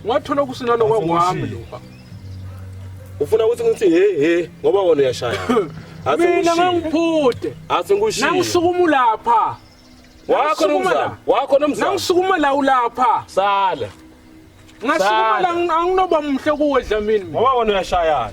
Ngathola ukusina lokwami lo. Ufuna ukuthi ngithi he he ngoba wona uyashaya. Mina ngangiphude. Asingushilo. Nangisukuma lapha. Wakho nomzamo. Wakho nomzamo. Nangisukuma la ulapha. Sala. Ngasukuma la anginoba muhle kuwe Dlamini. Ngoba wona uyashayana.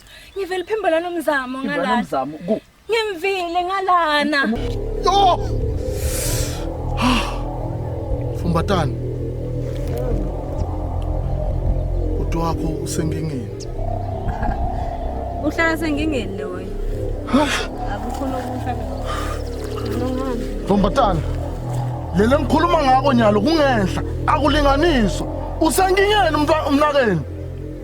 Ngivele phimbo lana umzamo Ngibona ngalana. umzamo ku Ngimvile ngalana. Yo! Fumbatani. Uthi wakho usengingeni. Uhlala sengingeni le wena. Akukhona okusha. Ngilongani. Fumbatani. Lele ngikhuluma ngako nyalo kungenhla akulinganiswa. Usengingeni umntwa- umnakeni.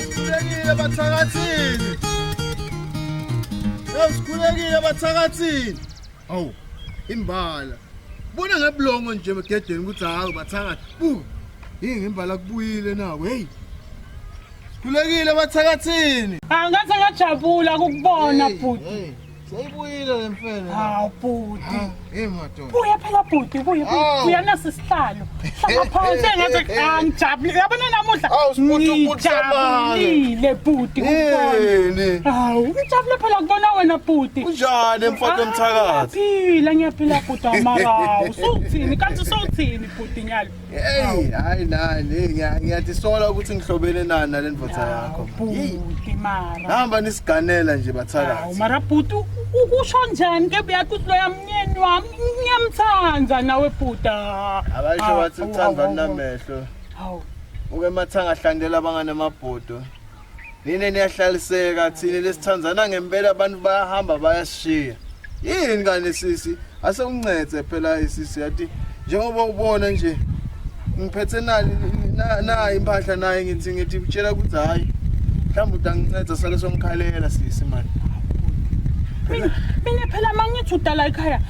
Sikhulekile bathakathini. Hey sikhulekile bathakathini. Awu imbala. Bona ngeblongo nje emgedeni ukuthi hawu bathakathi. Bu. Yini ngembala kubuyile nawo. Hey. Sikhulekile bathakathini. Angase ngajabula ukukubona bhuti. Seyibuyile le mfene. Hawu bhuti. Hey madoda. Buya phela bhuti, buya buya. Buya nasi sihlalo. Hlala phansi engathi angijabulile. Yabona namuhla. Hawu sibhuti ukuthi sabana. Ngijabulile bhuti kubona. Hawu ngijabule phela kubona wena bhuti. Kunjani mfana omthakathi? Ngiyaphila ngiyaphila bhuti amarawu. Suthini kanti suthini bhuti nyalo. Hey, hayi nani, hey, ngiya- ngiyazisola ukuthi ngihlobene nani nale ndoda yakho. Hey, Bhuti mara. Hamba nisiganela nje Hawu, bathakathi. mara bhuti u- u- kusho njani ke buyathi uthi loya mnyeni wami ngiyamthanda nawe bhuta. Abasho bathi uthanda namehlo. Hawu. Uke mathanga hlandela abangane amabhodo. Nina niyahlaliseka thina lesithandana ngempela abantu bayahamba bayashiya. Yini kani sisi? Ase uncede phela isisi yathi njengoba ubona nje ngiphethe nani na impahla naye ngithi ngithi utshela ukuthi hayi mhlawumbe utanginceda sale somkhalela sisi mani mina phela mangithi udala ekhaya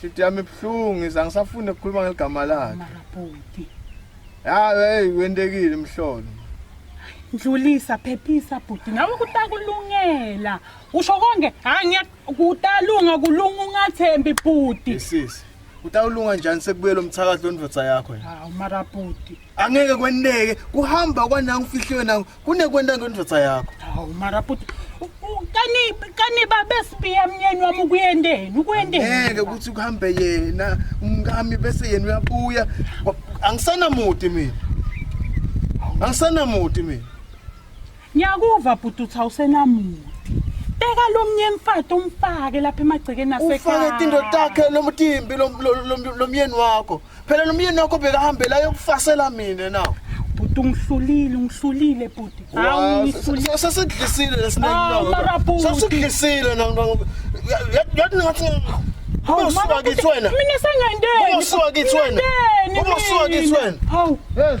Hlithi yami ibuhlungu iza ngisafune ukukhuluma ngeligama lakhe. Mara bhuti. Ya hey wentekile mhlolo. Ndlulisa phephisa bhuti nawe kutakulungela. Usho konke hayi ngiya kutalunga kulunga ungathembi bhuti. Sisi. Utawulunga njani sekubuyela umthakathi londvodza yakho. Hawu mara bhuti. angeke kweneke kuhamba kwanangu fihliwe nangu kunekwenta ngendoda yakho hawu mara bhuti kani kani babesibiya mnyeni wami ukuyenteni ukuyenteni ngeke ukuthi kuhambe yena umkami bese yena uyabuya angisanamuti mina angisanamuti mina Ngiyakuva bhuti uthi awusenamuntu. Beka lo mnye mfati umfake lapha emagcekeni ufake asekhaya. tinto takhe lo mtimbi lo- lo- lo- lo myeni wakho phela lo myeni wakho bekahambela yokufasela mina na Bhuti ungihlulile, ungihlulile bhuti. Hawu ungihlulile. sesidlisile Ah, mara bhuti. lesineksesidlisile yathi ngathi Hawu, mara usuka bhuti, kithi wena Mina sengandeni. Uba usuka kithi wena. Ngingandeni Uba usuka kithi mina. wena. Hawu. yes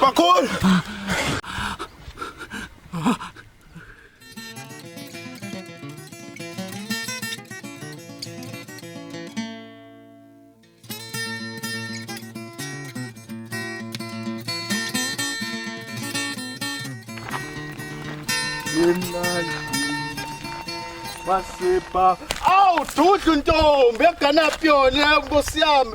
Bakhulu! Basipha. Awu, dudlu ntombi, eganaphi yona, nkosi yami.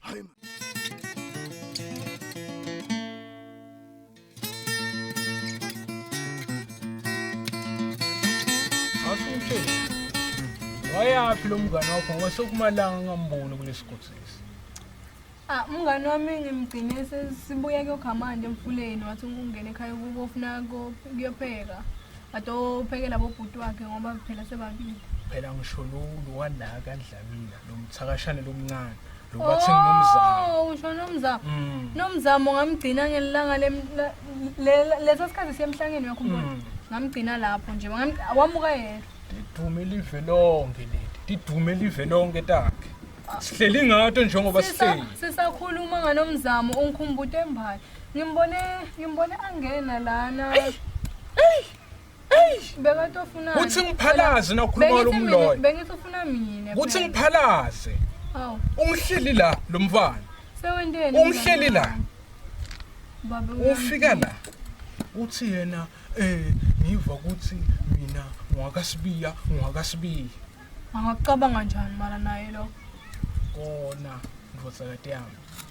Hayi man. Asumthe. Wayaphi lo mngane wakho ngoba sekumalanga ngamboni kulesigodi lesi. Ah umngane wami ngimgcine sesibuya kuyokha manje emfuleni wathi ungena ekhaya kubo ufuna ko- kuyopheka. But ophekela bobhuti wakhe ngoba phela sebabili. Phela ngisho lo lo wanaka andlamina lo mthakashane lomncane. Lo wathi nginomzamo. Oh, usho nomzamo. Mm. Nomzamo ngamgcina ngelanga lem- la- le- lesa sikhathi siyemhlangeni wakho umbona. Mm. Ngamgcina lapho nje. ngam- Wamuka yena. Lidume live lonke leli. Lidume live lonke takhe. Sihleli ngato njengoba Sisa- sihleli. Sisakhuluma nganomzamo ungikhumbuta embathi. Ngimbone ngimbone angena lana. Bekatofuna. Uthi ngiphalaze nokhuluma lo mloyo. Bengithi ufuna mina. Uthi ngiphalaze. Aw. Ungihleli la lo mfana. Sewenteni? Ungihleli la. Baba ufika la. Uthi yena eh ngiva ukuthi mina ngwakasibiya ngwakasibiya. Angacabanga njani mara naye lo? Kona ndvodzakati yami.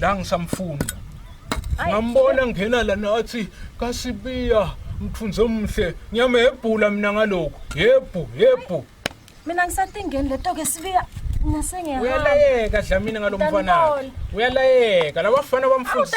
la ngisamfuna ngambona ngena la nathi kasibiya mthunze omhle ngiyamebhula mina ngalokho yebhu yebhu mina ngisathingeni leto ke sibiya uyalayeka dlamini ngalo mfana uyalayeka labafana bamfundisa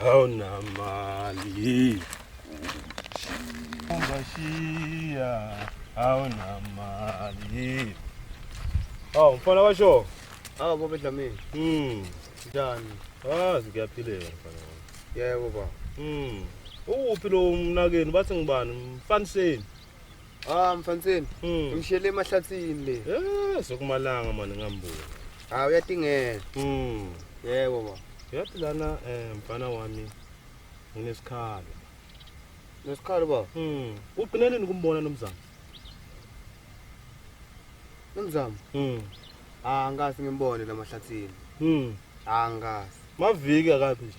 haunamali ungashia haunamali awu mfana washo awu baba edlamini mm njani azi kuyaphileka mfana yebo baba mm uwuphi lo mnakeni bathi ngibani mfaniseni Ah mfanseni, Mm. ngishele emahlathini le. Eh, sokumalanga mani ngambuka. Hawu uyatingela. Mm. Yebo baba. Yathi lana eh mfana wami nginesikhalo. Nesikhalo baba. Mm. Ugcina nini kumbona nomzamo? Nomzamo. Mm. Ah ngasi ngimbone lamahlathini. Mm. Ah ngasi. Maviki akabi nje.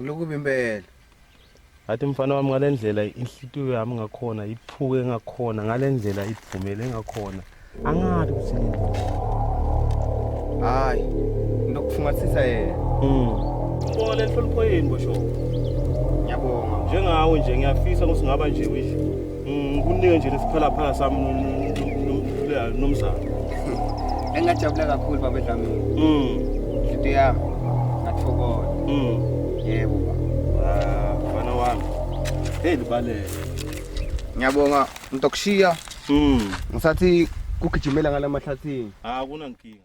Lukubi impela. Athi mfana wami ngalendlela inhlitiyo yami ngakhona iphuke ngakhona ngalendlela iphumele ngakhona. Angathi ukuthi hayi ndokufungathisa yena. Mm. Ngibonga lenhlonipho yini bosho. Ngiyabonga. Njengawe nje ngiyafisa ukuthi ngaba nje wisho. Ngikunike nje lesiphalaphala sami nomzamo. Engajabula kakhulu baba Dlamini. Mm. Into yami ngathokoza. Mm. Yebo baba. Ah, mfana wami. Hey libalele. Ngiyabonga mntokushiya. Mm. Ngisathi kugijimela ngalamahlathini. Ah kunankinga.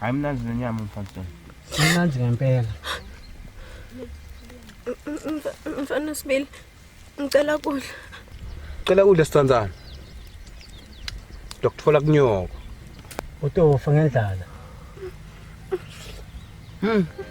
Hayi mnandi nenyama mfana. Mnandi ngempela. Mfana Sibili, ngicela kudla. Cela kudla sithandana. Dokuthola kunyoko. Utofa ngendlala. Hmm.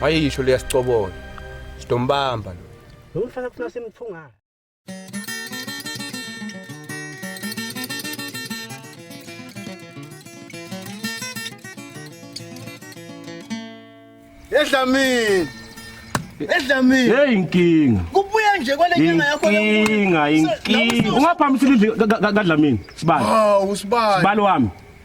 wayeyisho liyasicobona sidombamba lo lomfana kufuna simthungana Edlamini. Edlamini. Hey inkinga. Kubuya nje kwale nyanga yakho inkinga inkinga. Ungaphambisile kadlamini. Sibali. Hawu sibali. Sibali wami.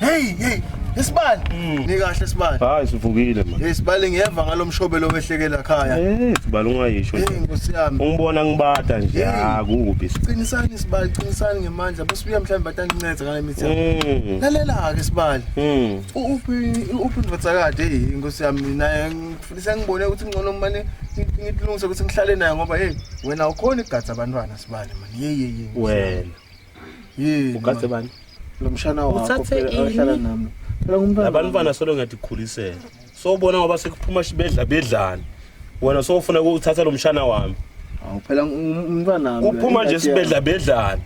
Hey hey Isibali. Mm. Ni kahle Isibali. Hayi sivukile manje. Hey Sibali ngiyeva ngalomshobelo wehlekela ekhaya. Eh Sibali ungayisho. Hey Nkosi yami. Ungibona ngibata nje. Ah kubi. Qinisani Sibali, qinisani ngemandla. Bese uya mhlawumbe bataninceza ngale mithi. Mm. Lalela ke Sibali. Mm. Uphi uphi ndvodzakade hey Nkosi yami mina ngifisa ngibone ukuthi ngcono manje ngilungise ukuthi ngihlale naye ngoba hey wena ukhona igatsa abantwana Sibali manje. Yeyeye. Wena. yini ugadze bani lo mshana wakho Uthathe phela ini? ahlala nami phela ngumntwana labantu bana solo ngathi khulisela sobona ngoba sekuphuma shibedla bedlani wena sofuna ukuthatha lo mshana wami Awu, phela ngum- umntwana wami uphuma nje ingadi yami. sibedla bedlani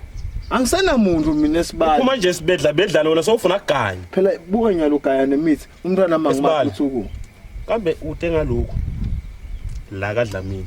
angisenamuntu mina esibali uphuma nje sibedla bedlani wena sofuna kuganya phela buka nyalo gaya nemithi umntwana Esibali. mangimaphuthi uku kambe ute ngalokhu la kadlamini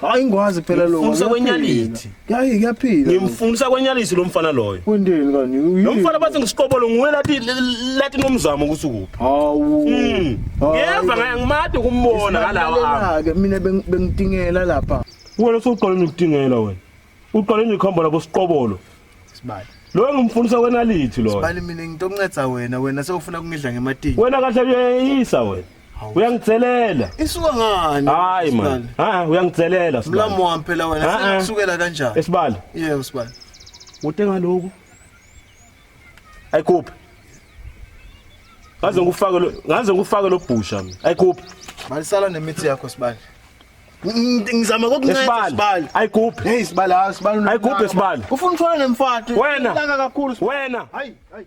hayi ngikwazi kuphela lokho Ngimfundisa kwenyalithi. hayi kuyaphila ngimfundisa kwenyalisi lo mfana loyo kwendeni kani lo mfana bathi ngisiqobolo nguwe lathi lathi nomzamo ukuthi ukuphi hawu Mm. Hawu. ngiyeva ngaye ngimade ukumbona ngalawa ami Isilalelake, mina beng- bengidingela lapha wena sowuqala nokutingela wena Uqale imikhombo la kusiqobolo. Sibali. Lo engimfundisa wena lithi lo. Sibali mina ngitoncedza wena wena sewufuna kungidla ngematini. Wena kahle uyeyisa wena. Uyangitselela. Isuka ngani? Hayi man. Ha uyangitselela sibali. Mlamu wami phela wena ah, ah. sekukusukela kanjani? Esibali. Yebo sibali. Ude ngaloku. Ayikuphi. Ngaze ngikufake lo ngaze ngikufake lo bhusha mina. Ayikuphi. Malisala nemithi yakho sibali. ngizama kokunceda sibali ayigubhe hey sibali hayi sibali ayigubhe sibali ufuna uthola nemfati wena laka kakhulu wena hayi hayi